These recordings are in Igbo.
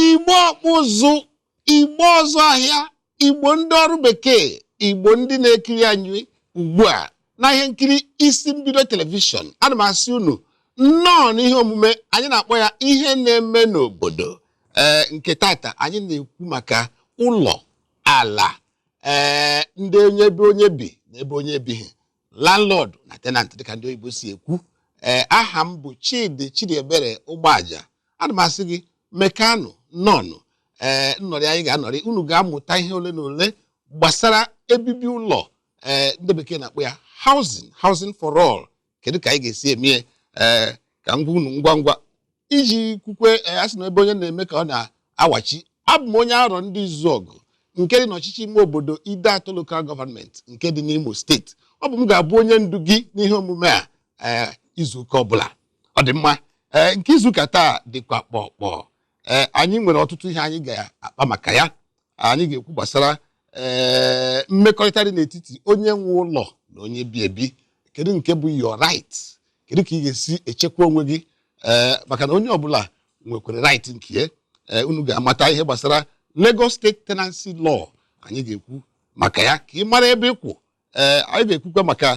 igbo ọkpụ ụzụ igbo ọzụ ahịa igbo ndị ọrụ bekee igbo ndị na-ekiri anyị ugbu a na ihe nkiri isi mbido telivishọn ana m asị unu nnọọ n'ihe omume anyị na-akpọ ya ihe na-eme n'obodo ee nke tata anyị na-ekwu maka ụlọ ala ee ndị onye ebe onye bi na ebe onye ebighị landlord na tenant dịka ndị oyibo si ekwu ee aha m bụ chidi chidiebere ụgbọaja ana m asị gị mekanụ nnọọnụ ee nnọrị anyị ga-anọrị unu ga-amụta ihe ole na ole gbasara ebibi ụlọ ee ndị bekee na-akpọ ya housing housing for all kedu ka anyị ga-esi eme ya ee ka m gwa unu ngwa ngwa iji kwukwe eh, a sị na ebe onye na-eme ka ọ na-awachi abụ m onye arọndizuọgụ nke dị n'ọchịchị ime obodo ideatọ local government nke dị n'imo steeti ọ bụ m ga-abụ onye ndu gị n'ihe omume a ee izuụka ọbụla ọ dị mma ee nke izuụka taa dịkwa kpọkpọ ee anyị nwere ọtụtụ ihe anyị ga-akpa maka ya anyị ga-ekwu gbasara ee mmekọrịta dị n'etiti onye nwe ụlọ na onye bi ebi kedu nke bụ your right kedu ka ị ga-esi echekwa onwe gị ee maka na onye ọbụla nwekwara right nke ya ee unu ga-amata ihe gbasara Lagos State Tenancy Law anyị ga-ekwu maka ya ka ị mara ebe ị kwụ ee anyị ga-ekwukwa maka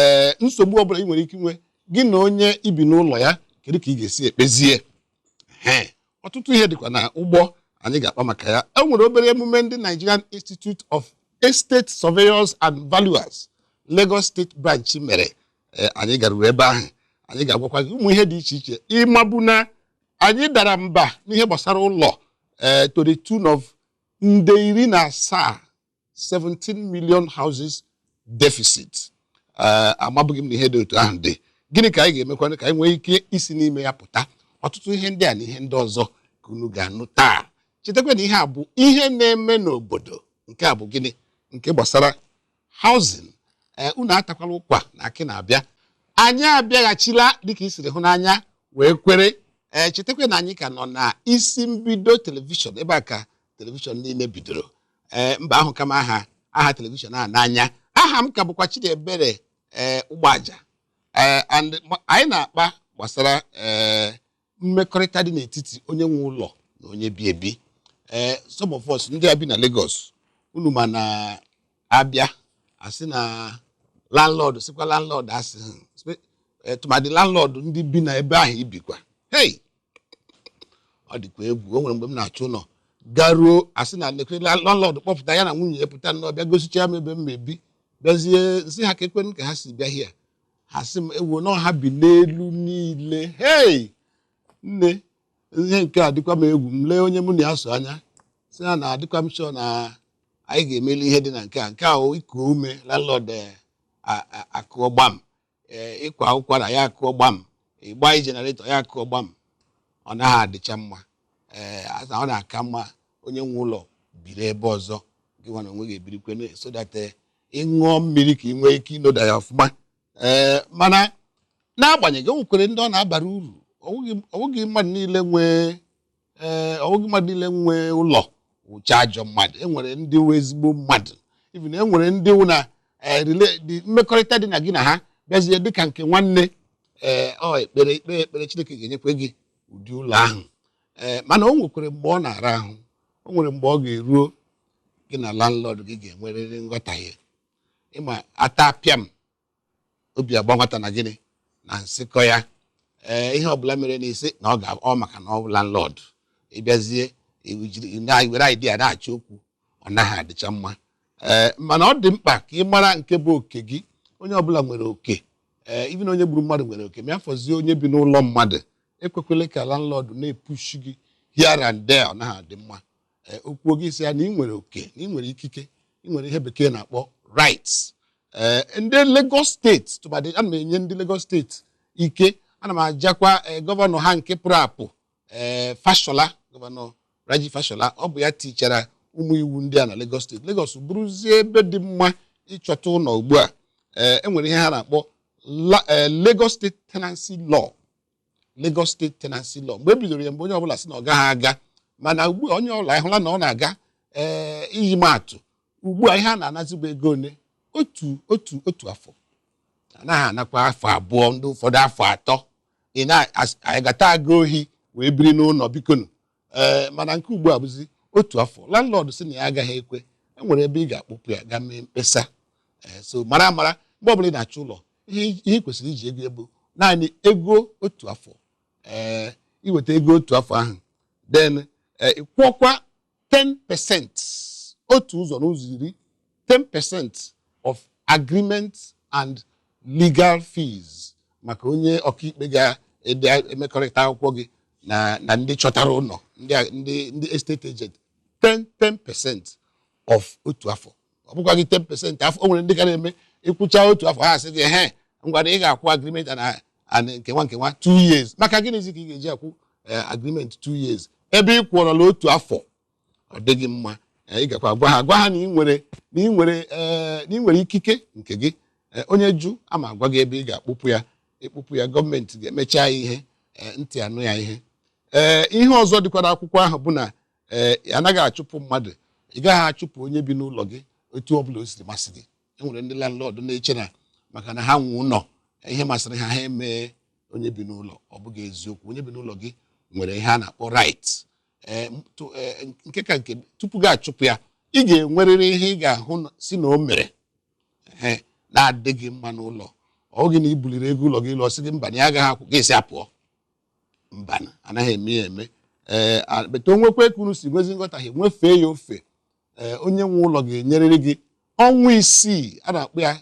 ee nsogbu ọbụla ị nwere ike inwe gị na onye i bi n'ụlọ ya kedu ka ị ga-esi ekpezie ee ọtụtụ ihe dịkwa na ụgbọ anyị ga-akpa maka ya e nwere obere emume ndị Nigerian Institute of Estate Surveyors and Valuers Lagos State Branch mere anyị garuru ebe ahụ anyị ga-agwakwa gị ụmụ ihe dị iche iche ị mabu na anyị dara mba n'ihe gbasara ụlọ ee eh, to the tune of nde iri na asaa 17 million houses deficit ee amabughị m na ihe dị otu ahụ dị gịnị ka anyị ga-emekwanụ ka anyị nwee ike isi n'ime ya pụta ọtụtụ ihe ndị a na ihe ndị ọzọ ka unu ga-anụ taa chetakwa na ihe a bụ ihe na-eme n'obodo nke a bụ gịnị nke gbasara housing ee unu atakwala ụkwa na akị na-abịa anyị abịaghachila dịka i siri hụ n'anya wee kwere ee chetakwa na anyị ka nọ na isi mbido telivishọn ebe a ka telivishọn niile bidoro ee mba ahụka m aha aha telivishọn a n'anya aha m ka bụkwa Chidiebere ee ụgbọaja ee and ma- anyị na-akpa gbasara ee mmekọrịta dị n'etiti onye nwe ụlọ na onye bi ebi ee some of us ndị a bi na Lagos unu ma na a bịa asị na landlord sịkwa landlord asị hmm, spe- eh, tụmadị landlord ndị bi na ebe ahụ i bikwa hey ọ dịkwa egwu o nwere mgbe m na-achọ ụlọ garuo asị na landlord kpọpụta ya na nwunye ya pụta nnọọ bịa gosicha m ebe m ebi bịazie m sị ha kee kwenụ ka ha si bịa here ha sị m ewo na ha bi n'elu niile hei nne ihe nke a dịkwa m egwu m lee onye mụ na ya so anya sị ya na adịkwa m sure na anyị ga-emeli ihe dị na nke a nke a iku ume landlord akụọ gbam ee ị kwa ụkwara ya akụọ gbam ị gbanye generator ya akụọ gbam ọ naghị adịcha mma ee asa ọ na-aka mma onye nwe ụlọ biri ebe ọzọ gị nwa n'onwe gị ebirikwe na- so that eh, ị ṅụọ mmiri ka ị nwee ike inoda ya ọfụma ee mana n'agbanyeghị o nwekwere ndị ọ na-abara uru ọ bụghị- ọ bụghị mmadụ niile nwee ee eh, ọ wụghị mmadụ niile nwe ụlọ wụcha ajọ mmadụ enwere ndị wụ ezigbo mmadụ even enwere ndị wụ na eh, mmekọrịta dị na gị na ha bịazie dịka nke nwanne ee ọ ekpere i kpee ekpere Chineke ga-enyekwa gị ụdị ụlọ ahụ ee mana o nwekwere mgbe ọ na-ara ahụ o nwere mgbe ọ ga-eruo gị na landlord gị ga-enwerịrị nghọtahie ịma ata pịam obi agba nwata na gịnị na nsịkọ ya ee ihe ọbụla mere na ị sị na ọ maka na ọ bụ landlord ị bịazie i were idea na-achọ okwu ọ naghị adịcha mma ee mana ọ dị mkpa ka ị mara nke bụ oke gị onye ọbụla nwere oke ee even onye gburu mmadụ nwere oke ma ya fọzie onye bi n'ụlọ mmadụ ekwekwele ka landlord na-epushi gị here and there ọ naghị adị mma ee o kwuo gị sị ya na ị nwere oke na ị nwere ikike ị nwere ihe bekee na-akpọ rights ee ndị Lagos steeti tụbadị ana m enye ndị Lagos steeti ike ana m ajakwa ee gọvanọ ha nke pụrụ apụ ee Fashola gọvanọ Raji Fashola ọ bụ ya tichara ụmụ iwu ndị a na Lagos steeti Lagos bụrụzie ebe dị mma ịchọta ụlọ ugbu a ee enwere ihe ha na-akpọ Lagos State Tenancy Law Lagos State Tenancy Law mgbe e bidoro ya mgbe onye ọbụla sị na ọ gaghị aga mana ugbu a onye ọbụla ahụla na ọ na-aga ee iji maa atụ ugbu a ihe a na-anazi bụ ego ole otu otu otu afọ anaghị anakwa afọ abụọ ndị ụfọdụ afọ atọ ị na-agata aga ohi wee biri n'ụlọ bikonu ee eh, mana nke ugbu a bụzi otu afọ landlord sị na ya agaghị ekwe e nwere ebe ị ga-akpụpụ ya gaa mee mkpesa eh, so mara amara mgbe ọbụla ị na-achọ ụlọ ihe ị kwesịrị iji ego bụ naanị ego otu afọ ee eh, i weta ego otu afọ ahụ then ị kwụọkwa 10 pesent otu ụzọ n'ụzọ iri 10% of agreement and legal fees maka onye ọkaikpe ga-emekọrịta akwụkwọ gị na na ndị chọtara ụlọ ndị a- ndị ndị estate agent 10 10% of otu afọ ọ bụkwaghị 10% afọ o nwere ndị ka na-eme ị kwụchaa otu afọ ha sị gị ehe ngwa na ị ga-akwụ agreement na and nkewa nkewa 2 years maka gịnịzi ka ị ga-eji akwụ eh, agreement 2 years ebe ị kwụọrọla otu afọ ọ dịghị mma eh, ị gakwa gwa ha gwa ha na ị nwere na ị nwere eh, na ị nwere ikike nke gị Eh, onye jụ ama agwa gị ebe ị ga-akpụpụ ya ị kpụpụ ya gọọmenti ga-emecha ya ihe eh, ntị anụ ya ihe ee ihe ọzọ dịkwa n'akwụkwọ ahụ bụ na ee anaghị achụpụ mmadụ ị gaghị achụpụ onye bi n'ụlọ gị otu ọ bụla o siri masị gị e nwere ndị landlord na-eche na maka na ha nwe ụlọ ihe masịrị ha ha emee onye bi n'ụlọ ọ bụghị eziokwu onye bi n'ụlọ gị nwere ihe a na-akpọ right ee, m- tụ- ee, nke ka nke tupu gị achụpụ ya ị ga-enwerịrị ihe ị ga-ahụ na- sị na o mere ee, na-adịghị mma n'ụlọ ọ bụghị na i buliri ego ụlọ gị elu ọ sị gị mba na ya agaghị akwụ gị sị ya pụọ mba anaghị eme ya eme ee a- but o nwekwe ka unu si nwezi nghọtahie nwefee ya ofe ee onye nwe ụlọ ga-enyerịrị gị ọnwa isii a na-akpọ ya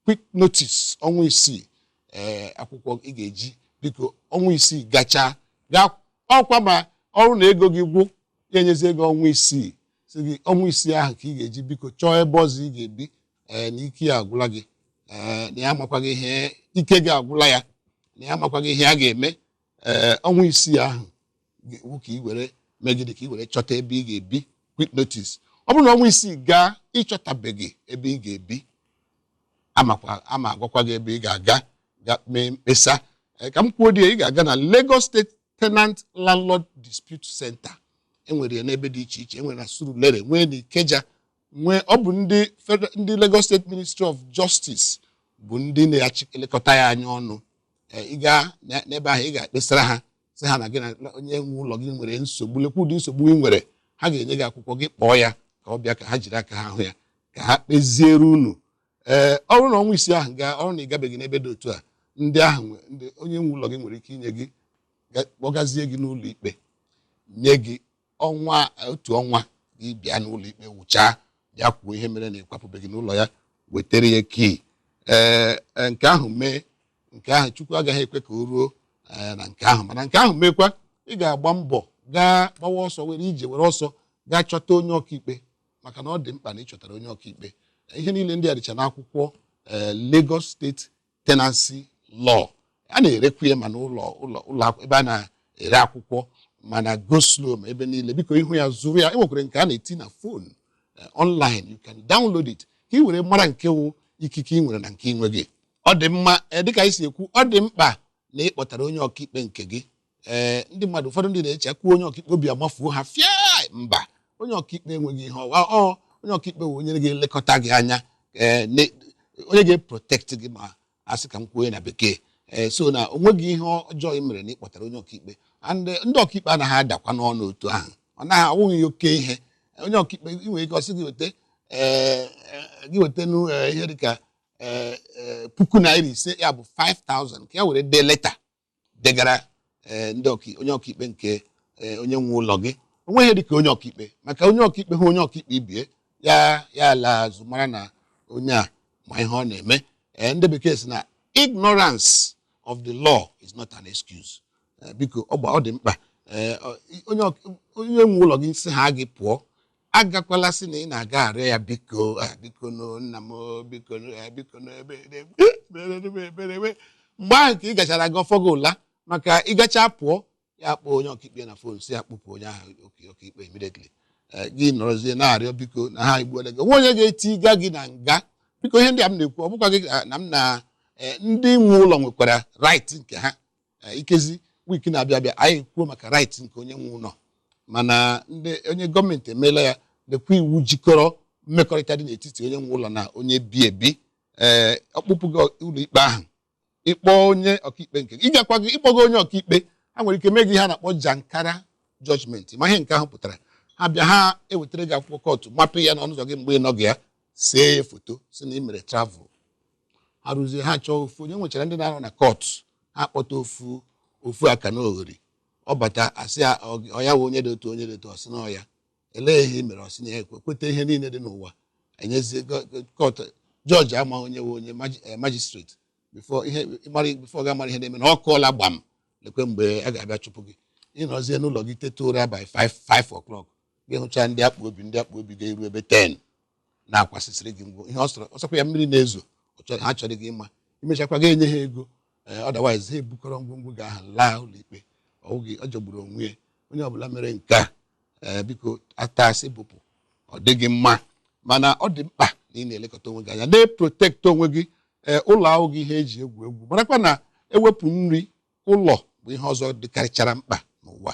quick notice ọnwa isii ee eh, akwụkwọ ị ga-eji biko ọnwa isii gachaa gaa ọkwa ma ọrụ na ego gị gwụ ya enyezi gị ọnwa isii sị gị ọnwa isii ahụ ka ị ga-eji biko chọọ ebe ọzọ ị ga-ebi ee eh, na ike ya agwụla gị ee eh, na ya amakwaghị ihe ike gị agwụla ya na ya amakwaghị ihe a ga-eme ee ọnwa isii ahụ ga-awụ ka ị were mee gịnị ka ị were chọta ebe ị ga-ebi quick notice ọ bụrụ na ọnwa isii gaa ị chọtabeghị ebe ị ga-ebi amakwa ama agwakwa gị ebe ị ga-aga ga mee mkpesa Ee, ka m kwuo dị ya, ị ga-aga na Lagos State Tenant Landlord Dispute Center e nwere ya n'ebe dị iche iche e nwere na Surulere nwee na Ikeja nwee ọ bụ ndị federal ndị Lagos State Ministry of Justice bụ ndị na-achị elekọta ya anya ọnụ Eh, ị gaa na- n'ebe ahụ ị ga-ekpesara ha sị ha na gị na onye nwe ụlọ gị nwere nsogbu lekwa ụdị nsogbu ị nwere ha ga-enye gị akwụkwọ gị kpọọ ya ka ọ bịa ka ha jiri aka ha hụ ya ka ha kpeziere unu ee ọ bụrụ na ọnwa isii ahụ gaa ọrụ na ị gabeghị n'ebe dị otu a ndị ahụ nwe- ndị onye nwe ụlọ gị nwere ike inye gị ga- kpọgazie gị n'ụlọ ikpe nye gị ọnwa otu ọnwa gị bịa n'ụlọ ikpe wụchaa bịa kwuo ihe mere na ị kwapụbeghị n'ụlọ ya wetara ya key ee e, nke ahụ mee nke ahụ Chukwu agaghị ekwe ka o ruo e, na nke ahụ mana nke ahụ meekwa ị ga-agba mbọ gaa gbawa ọsọ were ije were ọsọ gaa chọta onye ọkaikpe maka na ọ dị mkpa na ị chọtara onye ọkaikpe ihe niile ndị a dịcha n'akwụkwọ ee Lagos State tenancy law a na-erekwa ya ma n'ụlọ ụlọ ụlọ akwụ- ebe a na-ere akwụkwọ ma na go slow ma ebe niile biko ị hụ ya zụrụ ya e nwekwara nke a na-eti na phone online you can download it ka ị were mara nke wụ ikike ị nwere na nke ị nweghị ọ dị mma eh, dịka anyị si ekwu ọ dị mkpa na ị kpọtara onye ọkaikpe nke gị ee eh, ndị mmadụ ụfọdụ ndị na-eche kwuo onye ọkaikpe obi amafuo ha fịa mba onye ọkaikpe enweghị ihe ọ wụ ọ onye ọkaikpe wụ onye ga-elekọta gị anya eh, onye ga-eprotect gị ma a sị ka m kwuo na bekee ee eh, so na o nweghị ihe ọjọọ ị mere na ị kpọtara onye ọkaikpe ndị ọkaikpe anaghị adakwanụ ọnụ otu ahụ ọ naghị awụ oke ihe onye ọkaikpe ị nwere ike ọ sị gị weta gị weta ihe dịka puku naira ise ya bụ 5000 ka ya were dee leta degara eh, ndị ọka- onye ọkaikpe nke eh, onye nwe ụlọ gị o nweghị ihe dịka onye ọkaikpe maka onye ọkaikpe hụ onye ọkaikpe ibe ya ya alaa azụ mara na onye a ma ihe ọ na-eme Eh, ndị bekee sị na ignorance of the law is not an excuse Eh, biko ọ gba- ọ dị mkpa Eh, ọ- onye ọk- onye nwe ụlọ gị sịhaa gị pụọ agakwala sị na ị na-aga arịọ ya biko ah, biko no nna m o, biko no, eh, biko no, ebe ebe meere m ebere ebe mgbe ahụ ka ị gachara aga ọ fọ gị ụla maka ị gacha pụọ ya kpọọ onye ọkaikpe na phone sị ya kpụpụ onye ahụ oke ọkaikpe immediately Eh, gị nọrọzie na-arịọ biko na ha egbuola gị o nwe onye ga-etiga gị na nga biko ihe ndị a m na-ekwu ọ bụkwaghị ah, na m na eh, ndị nwe ụlọ nwekwara right nke ha Eh, ikezi week na-abịa abịa anyị kwuo maka right nke onye nwe ụlọ mana ndị onye gọọmenti emeela ya lekwa iwu jikọrọ mmekọrịta dị n'etiti onye nwe ụlọ na onye bi ebi ee eh, ọ kpụpụ gị ụlọ ikpe ahụ ị kpọọ onye ọkaikpe nke gị ị bịakwaghị ị kpọghị onye ọkaikpe ha nwere ike mee gị ihe a na-akpọ jankara judgment ma ihe nke ahụ pụtara ha bịa ha ewetara gị akwụkwọ kọtụ mapa ya n'ọnụ ụzọ gị mgbe ị nọghị ya see ya foto sị na ị mere travel ha rụzie ha chọọ ofu onye e nwechara ndị na-arụ na court ha kpọta ofu ofu aka na oghori ọ bata a sị ya ọ- ọ ya wụ onye dị otu onye dị otu ọ sị na ọ ya elee ihe i mere ọ sị na ya ekwe kweta ihe niile dị n'ụwa e nyezie gọ- gọ- court judge ama onye wụ onye maji- eh, magistrate before ihe ị mara before ọ ga-amara ihe na-eme na ọ kụọla gbam lekwa mgbe a ga-abịa chụpụ gị ị nọzie n'ụlọ gị teta ụra by 5 5 o'clock gị hụcha ndị akpụ obi ndị akpụ obi ga-eru ebe 10 na-akwasịsịrị gị ngwo ihe ọ sọrọ ọ sọkwa ya mmiri na-ezo ọ chọrọ- ha achọghị ịma i mechakwa gị enye ha ego ee otherwise ha ebukọrọ ngwongwo gị ha alaa ụlọikpe ọ bụghị ọ jọgburu onwe ya onye ọbụla mere nke a ee biko ata asị bụpụ ọ dịghị mma mana ọ dị mkpa na ị na-elekọta onwe gị anya na-eprotect onwe gị ee ụlọ awụghị ihe e ji egwu egwu marakwa na e wepụ nri ụlọ bụ ihe ọzọ dịkarịchara mkpa n'ụwa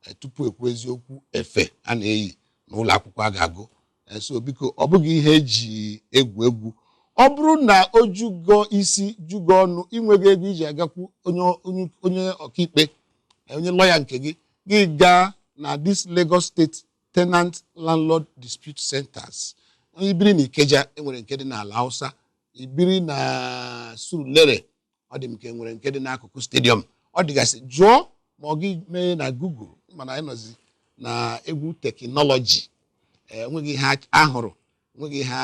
eh, tupu ekwuzie okwu efe a na-eyi na ụlọ akwụkwọ a ga-agụ eh, so biko ọ bụghị ihe eji egwu egwu ọ bụrụ na o jugo isi jugo ọnụ inweghị ego iji agakwu onye ọkaikpe eh, onye lọya nke gị gị gaa na dis Lagos State Tenant Landlord Dispute Centers ibiri na Ikeja enwere nke dị n'Alausa ibiri na Surulere ọ dị m ka e nwere nke dị n'akụkụ stadium ọ dịgasị jụọ ma ọ gị mee na google ị ma na anyị nọzi na egwu teknọlọji onweghị ihe ahụrụ nweghị ihe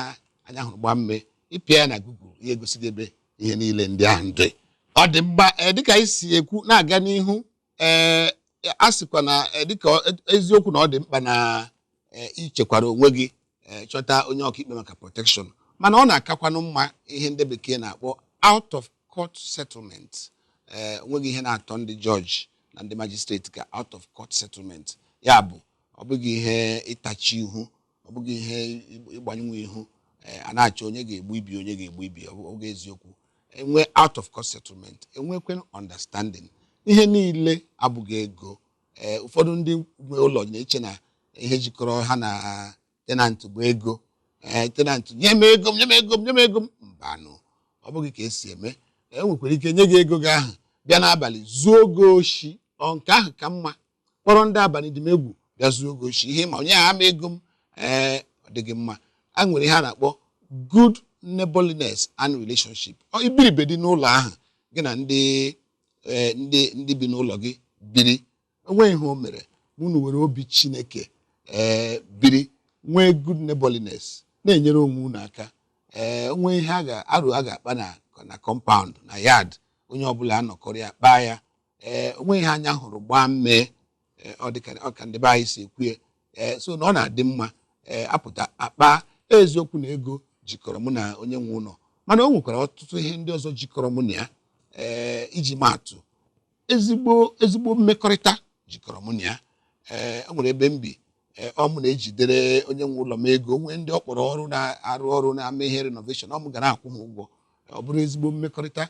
anya hụrụ gbaa mmee ịpịa ya na google ya egosi gị ebe ihe niile ndị ahụ dị ọ dị mkpa ee dịka anyị si ekwu na-aga n'ihu ee a sịkwa na eh, dịka ọ- e- eziokwu na ọ dị mkpa na eh, ichekwara onwe gị eh, chọta onye ọkaikpe maka protection mana ọ na-akakwanụ mma ihe ndị bekee na-akpọ out of court settlement ee onweghị ihe na-atọ ndị jọji na ndị majistreti ka out of court settlement ya bụ ọ bụghị ihe ịtachi ihu ọ bụghị ihe ịgbanyenwu ihu eh, a na-achọ onye ga-egbu ibe onye ga-egbu ibe ọ bụghị eziokwu enwe out of court settlement enwekwe understanding ihe niile abụghị ego eh, ụfọdụ ndị nwe ụlọ na-eche na ihe jikọrọ ha na tenant bụ ego eh, tenant nye m ego m nye m ego m nye m ego m mbanụ ọ bụghị ka esi eme o nwekwara ike nye gị ego gị ahụ bịa n'abalị zuo gị oshi ọ nke ahụ ka mma kpọrọ ndị abalị dị m egwu bịa zuo gị oshi ihe m ma o nyehaa m ego m ee ọ dịghị mma a nwere ihe a na-akpọ good neighborliness and relationship Ọ i biri bedị n'ụlọ ahụ gị na ndị ee, ndị ndị bi n'ụlọ gị biri onweghị ihe o mere ma unu were obi chineke ee biri nwee good neighborliness na-enyere onwe unu aka o nwee ihe a ga-arụ a ga-akpa na na compound na yard onye ọbụla anọkọrọ ya kpaa ya ee eh, onweghị ihe anya hụrụ gbaa mmee eh, ọ dịka ọ ka ndị be anyị si ekwu ee eh, so na ọ na-adị mma ee apụta akpa eziokwu na ego jikọrọ mụ na onye nwe ụlọ mana o nwekwara ọtụtụ ihe ndị ọzọ jikọrọ mụ na ya ee iji maatụ ezigbo ezigbo mmekọrịta jikọrọ mụ na ya ee o nwere ebe m bi ọ mụ na-ejidere onye nwe ụlọ m ego nwee ndị ọ kpọrọ ọrụ na-arụ ọrụ na-eme ihe renovation ọ mụ gara akwụ ha ụgwọ ọ bụrụ ezigbo mmekọrịta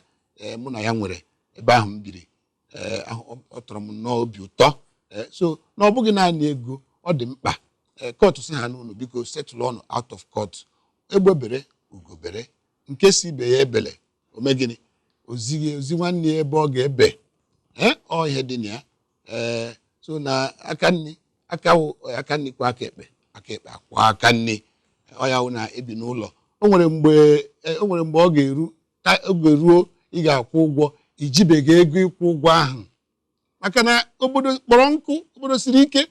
mụ na ya nwere ebe ahụ m biri ee ọ tọrọ m nnọọ obi ụtọ ee so na ọ bụghị naanị ego ọ dị mkpa ee kọtụ sị ha unu biko setụlụọnụ out of court egbe bere ugo bere nke sị ibe ya ebele o mee gịnị o zi nwanne ya ebe ọ ga-ebe ee ọ ihe dị na ya ee so na aka nri aka wụ aka nri kwọọ aka ekpe aka ekpe akwọọ aka nri ọ ya wụ na ebi n'ụlọ o nwere mgbe e, o nwere mgbe ọ ga-eru ka oge ruo ị ga-akwụ ụgwọ i jibeghị ego ịkwụ ụgwọ ahụ maka na obodo kpọrọ nkụ obodo siri ike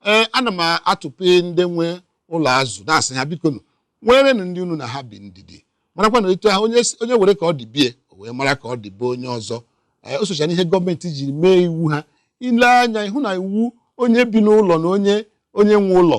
ee ana m atụpụ ndị nwe ụlọ azụ na-asị ha biko nụ nwerenụ ndị unu na ha bi ndidi marakwa na etu ahụ onye si- onye were ka ọ dị be ya o wee mara ka ọ dị be onye ọzọ ee o socha n'ihe gọọmenti jiri mee iwu ha ile anya ịhụ na iwu onye bi n'ụlọ na onye onye nwe ụlọ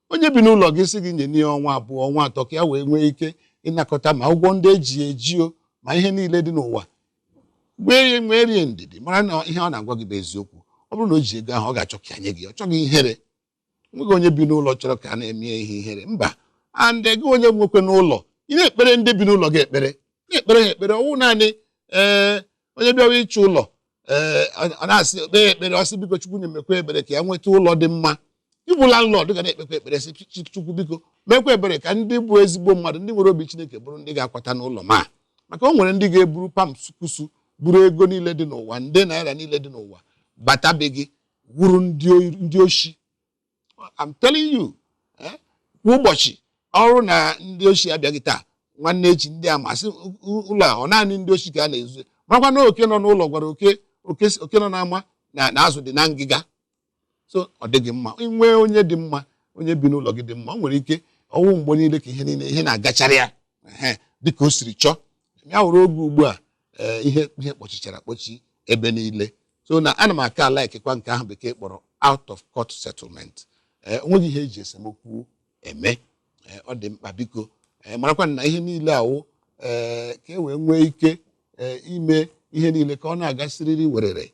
onye bi n'ụlọ gị sị gị nyenụ ya ọnwa abụọ ọnwa atọ ka ya wee nwee ike ịnakọta ma ụgwọ ndị e ji eji o ma ihe niile dị n'ụwa nwee nweere ya ndidi mara na ihe ọ na-agwa gị bụ eziokwu ọ bụrụ na o ji ego ahụ ọ ga-achọ ka nye gị ọ chọghị ihere o nweghị onye bi n'ụlọ chọrọ ka a na-eme ihe ihere mba and gị onye nwekwanụ ụlọ ị na-ekpere ndị bi n'ụlọ gị ekpere na-ekpere ha ekpere ọ wụ naanị ee onye bịawa ịchọ ụlọ ee a na-asị kpee ekpere ọ sị biko chukwu na-emekwa ebere ka ya nweta ụlọ dị mma ị bụ landlord ga na-ekpekwa ekpere sị "Chi- chukwu biko mekwa ebere ka ndị bụ ezigbo mmadụ ndị nwere obi chineke bụrụ ndị ga-akwata n'ụlọ m a maka o nwere ndị ga-eburu pam sukusu buru ego niile dị n'ụwa nde naira niile dị n'ụwa bata be gị wụrụ ndị oyi- ndị oshi I'm telling you eh, kwa ụbọchị ọ wụrụ na ndị oshi abịaghị taa nwanne echi ndị ama asị ụlọ a ọ naanị ndị oshi ka a na-ezu makwa na oke nọ n'ụlọ gwara oke oke nọ n'ama na azụ dị na ngịga so ọ dịghị mma i nwee onye dị mma onye bi n'ụlọ gị dị mma o nwere ike ọ wụ mgbe niile ka ihe niile ihe na-agachara ya dịka o siri chọọ ya wụrụ oge ugbu a ee ihe ihe kpọchichara akpọchi ebe niile so na ana m aka likekwa nke ahụ bekee kpọrọ out of court settlement ee o nweghị ihe e ji esemokwu eme ee ọ dị mkpa biko ee marakwa na ihe niile awụ ee ka e wee nwee ike ee ime ihe niile ka ọ na-aga siriri werere